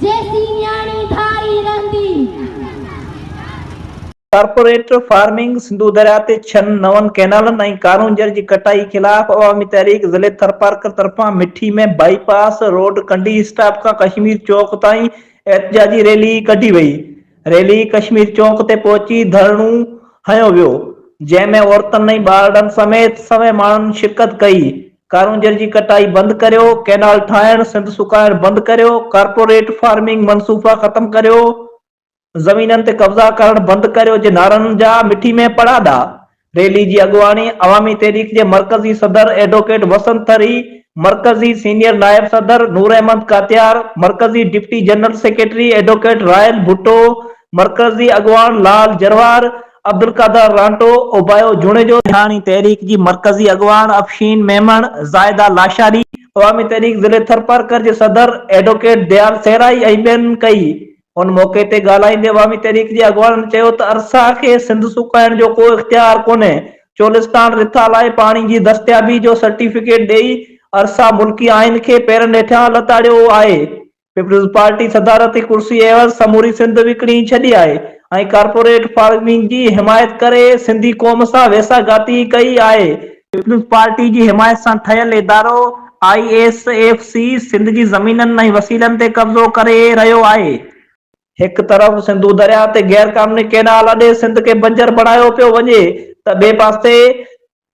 جيسين نياڻي ڌاري رهندي. ڪارپوريٽ فارمنگ، سنڌو درياء تي ڇهن نون ڪئنالن ۽ ڪارونجهر جي ڪٽائي خلاف عوامي تحريڪ ضلعي ٿرپارڪر طرفان Mithi ۾ bypass road Kandi stop کان ڪشمير چوڪ تائين احتجاجي ريلي ڪڍي وئي، ريلي ڪشمير چونڪ تي پهچي ڌرڻو هنيو ويو، جنهن ۾ عورتن ۽ ٻارڙن سميت سوين ماڻهن شرڪت ڪئي، ڪارونجهر جي ڪٽائي بند ڪريو، ڪئنال ٺاهڻ، سنڌ سڪائڻ بند ڪريو، ڪارپوريٽ فارمنگ منصوفا ختم ڪريو، زمينن تي قبضا ڪرڻ بند ڪريو جي نعرن جا مٺي ۾ پڙاڏا ريلي جي اڳواڻي عوامي تحريڪ جي مرڪزي صدر ايڊووڪيٽ وسنت ٿري، مرڪزي سينيئر نائب صدر نور احمد ڪاتيار، مرڪزي deputy general secretary advocate Rahil Bhutto, مرڪزي اڳواڻ لال جروار، عبدالقادر رانٽو، اوبايو جوڻيجو، سياڻي تحريڪ جي مرڪزي اڳواڻ افشين ميمڻ، زاهده لاشاري، عوامي تحريڪ ضلعي ٿرپارڪر جي صدر ايڊووڪيٽ ديال سيرائي ۽ ٻين ڪئي ان موقعي تي ڳالهائيندي عوامي تحريڪ جي اڳواڻن چيو ته ارسا کي سنڌ سڪائڻ جو ڪو اختيار ڪونهي، چولستان رٿا لاء پاڻي جي دستيابي جو سرٽيفڪيٽ ڏئي ارسا ملڪي آئين کي پيرن هيٺيان لتاڙيو آهي، پيپلزپارٽي صدارتي ڪرسي عيوض سموري سنڌ وڪڻي ڇڏي آهي ۽ ڪارپوريٽ فارمنگ جي حمايت ڪري سنڌي قوم سان ويساهه گهاتي ڪئي آهي، پيپلز پارٽي جي حمايت سان ٺهيل ادارو I S F C Sindh جي زمينن ۽ وسيلن تي قبضو ڪري رهيو آهي، هڪ طرف سنڌو درياهه تي غيرقانوني ڪينال اڏي سنڌ کي بنجر بڻايو پيو وڃي ته ٻئي پاسي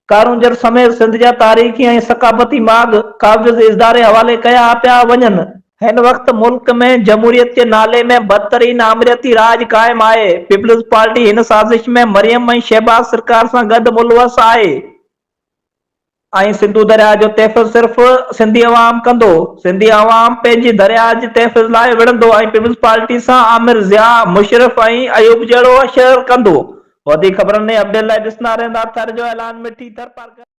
ڪارونجهر سميت سنڌ جا تاريخي ۽ ثقافتي ماڳ قابض اداري حوالي ڪيا پيا وڃن. هن وقت ملڪ ۾ جمهوريت جي نالي ۾ بدترين آمريتي راڄ قائم آهي، پيپلز پارٽي هن سازش ۾ مريم ۽ شهباز سرڪار سان گڏ ملوث آهي ۽ سنڌو درياهه جو تحفظ صرف سنڌي عوام ڪندو، سنڌي عوام پنهنجي درياهه جي تحفظ لاء وڙهندو ۽ پيپلز پارٽي سان عامر ضياء، مشرف ۽ ايوب جهڙو شر ڪندو. وڌيڪ خبرن ۽ اپڊيٽ لاء ڏسندا رهندا ٿر جو اعلان مٺي ٿر پارڪر.